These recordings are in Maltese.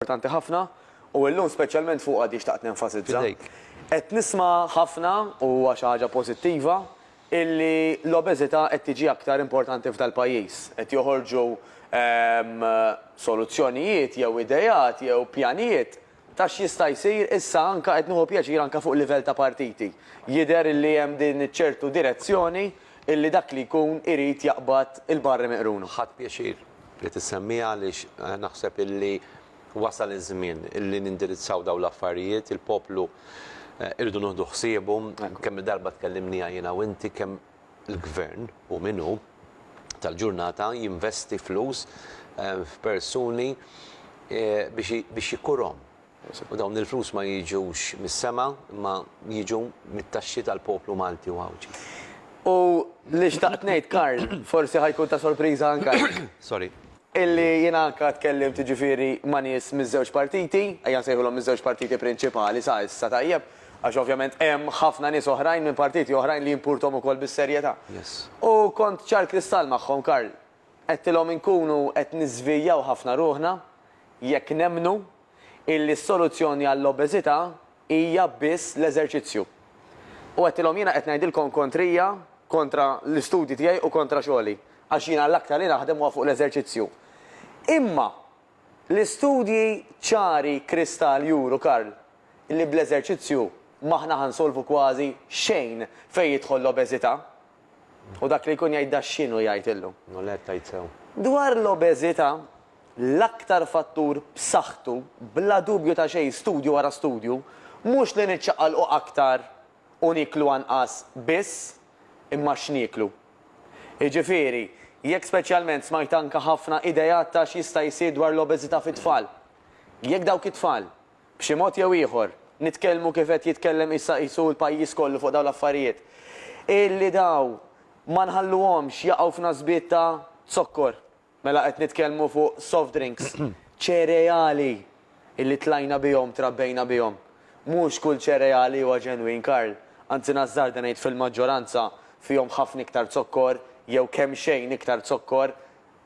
importanti ħafna u illum speċjalment fuqha di xtaqt nenfasizza. Fidejk. Qed nisma' ħafna, u huwa xi ħaġa pożittiva, illi l-obeżità qed tiġi aktar importanti f'dal-pajjiż. Qed joħorġu soluzzjonijiet jew ideat jew pjanijiet ta' x'jista' jsir issa anke qed nieħu pjaċir anke fuq livell ta' partiti. Jidher illi hemm din iċ-ċertu direzzjoni illi dak li jkun irid jaqbad il-barri miqruna. Ħadt pjaċir li tissemmiha għaliex naħseb illi wasal iż-żmien illi nindirizzaw dawn l-affarijiet. Il-poplu irridu nieħdu ħsiebu. Kemm-il darba tkellimniha jiena u inti kemm il-Gvern, hu min hu, tal-ġurnata jinvesti flus f'persuni biex ikurhom. U dawn il-flus ma jiġux mis-sema imma jiġu mit-taxxi tal-poplu Malti u Għawdxi. U li xtaqt ngħid, Karl, forsi ħa jkun ta' sorpriża anke għalik. Sorry. Illi jiena anke tkellimt jiġifieri ma' nies miż-żewġ partiti, ejja nsejħulhom miż-żewġ partiti prinċipali sa issa, tajjeb, għax ovvjament hemm ħafna nies oħrajn minn partiti oħrajn li jimpurtom ukoll bis-serjetà. U kont ċar kristall magħhom, Karl. Għedtilhom inkunu qed niżvijaw ħafna ruħna jekk nemmnu illi s-soluzzjoni għall-obeżità hija biss l-eżerċizzju. U għedtilhom jiena qed ngħidilkom kontrija, kontra l-istudji tiegħi u kontra xogħli, għax jiena l-aktar li naħdem huwa fuq l-eżerċizzju. Imma l-istudji ċari kristall juru, Karl, li bl-eżerċizzju m'aħna ħa nsolvu kważi xejn fejn jidħol l-obeżità. U dak li jkun jgħid da x'inhu jgħid illum? Noled, tgħid sew. Dwar l-obeżità, l-aktar fattur b'saħħtu, bla dubju ta' xejn, studju wara studju, mhux li niċċaqalqu aktar u nieklu anqas biss, imma x'nieklu. Jiġifieri, jekk speċjalment smajt anke ħafna ideat ta' x'jista' jsir dwar l-obeżità fit-tfal. Jekk dawk it-tfal b'xi mod jew ieħor, nitkellmu kif qed jitkellem issa qisu l-pajjiż kollu fuq dawn l-affarijiet, illi dawn ma nħalluhomx jaqgħu f'nasbiet ta' zokkor, mela qed nitkellmu fuq soft drinks, ċereali illi tlajna bihom, trabbejna bihom. Mhux kull ċereali huwa ġenwin, Karl, anzi nażżarda ngħid fil-maġġoranza fihom ħafna iktar zokkor jew kemxejn iktar zokkor,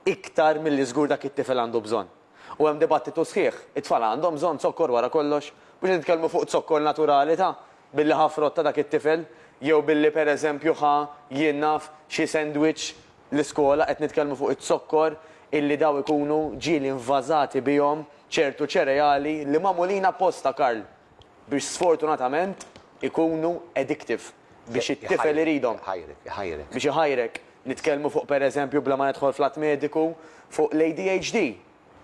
iktar milli żgur dak it-tifel għandu bżonn. U hemm dibattitu sħiħ, it-tfal għandhom bżonn zokkor wara kollox? Mhux qed nitkellmu fuq zokkor naturali ta' billi ħa frott ta' dak it-tifel, jew billi per eżempju ħa, jien naf, xi sandwich l-iskola, qed nitkellmu fuq iz-zokkor illi daw ikunu ġieli invażati bihom ċertu ċereali li magħmulin apposta, Karl, biex sfortunatament ikunu addictive. biex it-tifel iridhom. Iħajrek, iħajrek. Biex iħajrek. Nitkellmu fuq pereżempju bla ma nidħol fl-att mediku, fuq l-ADHD,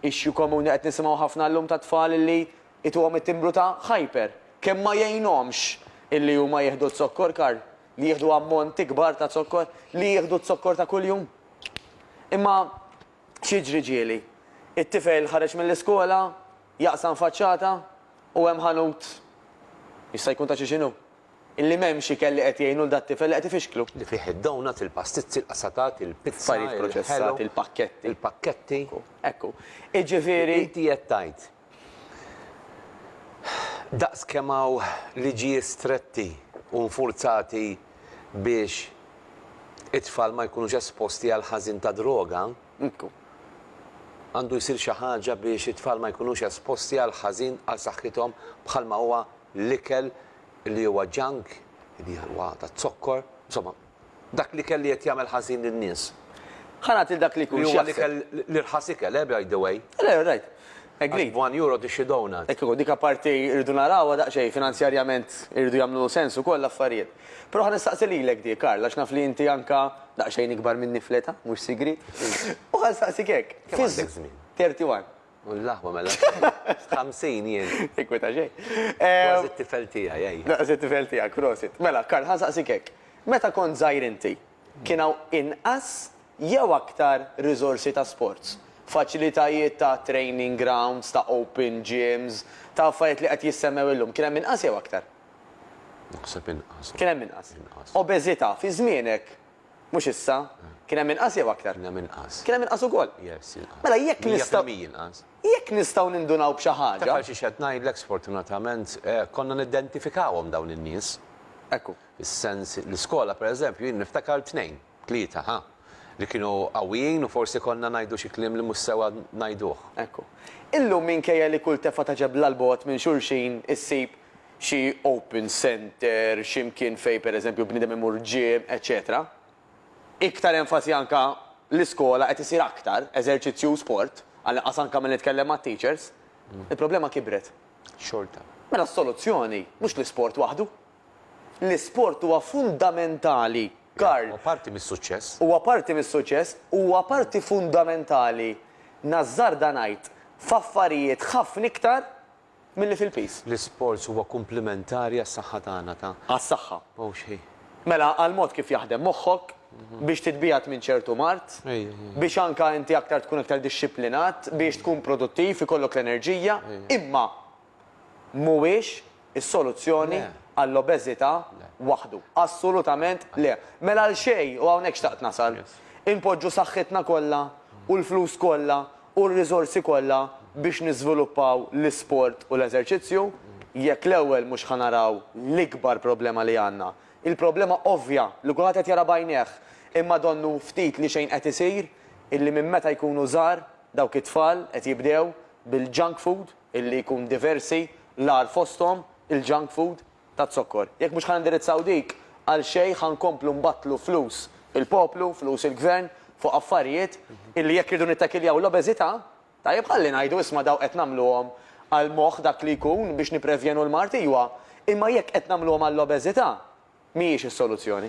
issue komuni qed nisimgħu ħafna llum ta' tfal li ituhom it-timbru ta' hyper. Kemm ma jgħinhomx illi huma jieħdu z-zokkor Karl, li jieħdu ammonti kbar ta' zokkor, li jieħdu z-zokkor ta' kuljum. Imma x'jiġri ġieli? It-tifel ħareġ mill-iskola, jaqsam faċċata u hemm ħanut, jista' jkun ta' xi x'inhu, Illi m'hemmx ikel li qed jgħin lul dat-tifel li qed ifixklu. Li fih id-donuts, il-pastizzi, il-qasatat, il-pizza, Affarijiet proċessati, il-pakketti. il-pakketti. Ekku. Iġifieri. Inti qed tgħid, daqs kemm hawn liġijiet stretti u nfurzati biex it-tfal ma jkunux esposti għall-ħażin tad-droga, Nkun. Għandu jsir xi ħaġa biex it-tfal ma jkunux esposti għal ħażin għal saħħithom bħalma huwa l-ikel li huwa junk, li huwa taz-zokkor, insomma, dak l-ikel li qed jagħmel ħażin lin-nies. Ħa nagħti lil dak li jkun x'jaħseb. Li huwa l-ikel, l-irħas ikel, eh, by the way. Le, rajt. Agreed. Għal one euro tixtri donut. Hekk ikun, dik apparti rridu narawha daqsxejn, finanzjarjament iridu jagħmlu sens ukoll l-affarijiet. Però ħa nistaqsi lilek dik, Karl, għax naf li inti anke daqsxejn ikbar minni fl-età, mhux sigriet. U ħa nsaqsik hekk. Kemm għandek żmien? Thirty one. U l-aħwa mela sirt ħamsin jien. Tinkweta xejn. Kważi t-tifel tiegħi, ejja. Kważi t-tifel tiegħek, prosit. Mela, Karl, ħa nsaqsik hekk. Meta kont żgħir inti, Kien hawn inqas jew aktar riżorsi ta' sports, faċilitajiet ta' training grounds, ta' open gyms, ta' affarijiet li qed jissemmew illum. Kien hemm inqas jew aktar? Naħseb inqas. Kien hemm inqas. Inqas. Obeżità, fi żmienek, mhux issa, kien hemm inqas jew aktar? Kien hemm inqas. Kien hemm inqas ukoll? Yes, inqas. Mela jekk nistgħu. Mija fil-mija inqas. Jekk nistgħu nindunaw b'xi ħaġa. Taf għal xiex qed ngħidlek, sfortunatament, konna niddentifikawhom dawn in-nies. Ekku. Is-sens, l-iskola pereżempju jien niftakar tnejn, tlieta, ħa, li kienu qawwijin u forsi konna ngħidu xi kliem li mhux sewwa ngħiduh. Ekku. Illum minkejja li kull tefgħa ta' ġebla 'l bogħod minn xulxin issib xi open centre, xi mkien fejn pereżempju bniedem imur gym, eċċetera Iktar enfasi anke l-iskola qed isir aktar eżerċizzju u sport, għall-inqas anke milli nitkellem mat-teachers, il-problema kibret. Xorta. Mela s-soluzzjoni mhux l-isport waħdu. L-isport huwa fundamentali, Karl. Huwa parti mis-suċċess. Huwa parti mis-suċċess u huwa parti fundamentali, nażżarda ngħid, f'affarijiet ħafna iktar milli fil-piż. L-isports huwa kumplimentari għas-saħħa tagħna ta'. Għas-saħħa. Mhux hi. Mela għall-mod kif jaħdem moħħok, biex titbiegħed minn ċertu mard, biex anke inti aktar tkun aktar dixxiplinat, biex tkun produttiv, ikollok l-enerġija, imma. mhuwiex is-soluzzjoni għall-obeżità waħdu. Assolutament le. Mela għal xejn, u hawnhekk xtaqt nasal, inpoġġu saħħitna kollha u l-flus kollha u r-riżorsi kollha biex niżviluppaw l-isport u l-eżerċizzju, jekk l-ewwel mhux ħa naraw l-ikbar problema li għandna, il-problema ovvja li kulħadd qed jara b'għajnejh imma donnu ftit li xejn qed isir, illi minn meta jkunu żgħar dawk it-tfal qed jibdew bil-junk food, illi jkun diversi, l-agħar fosthom il-junk food taz-zokkor. Jekk mhux ħa nindirizzaw dik, għal xejn ħa nkomplu nbattlu flus il-poplu, flus il-Gvern fuq affarijiet illi jekk irridu nittakiljaw l-obeżità, tajjeb ħalli ngħidu isma' dawk qed nagħmluhom għal moħħ dak li jkun biex nipprevjenu l-mard iwa, imma jekk qed nagħmluhom għall-obeżità mhijiex is-soluzzjoni.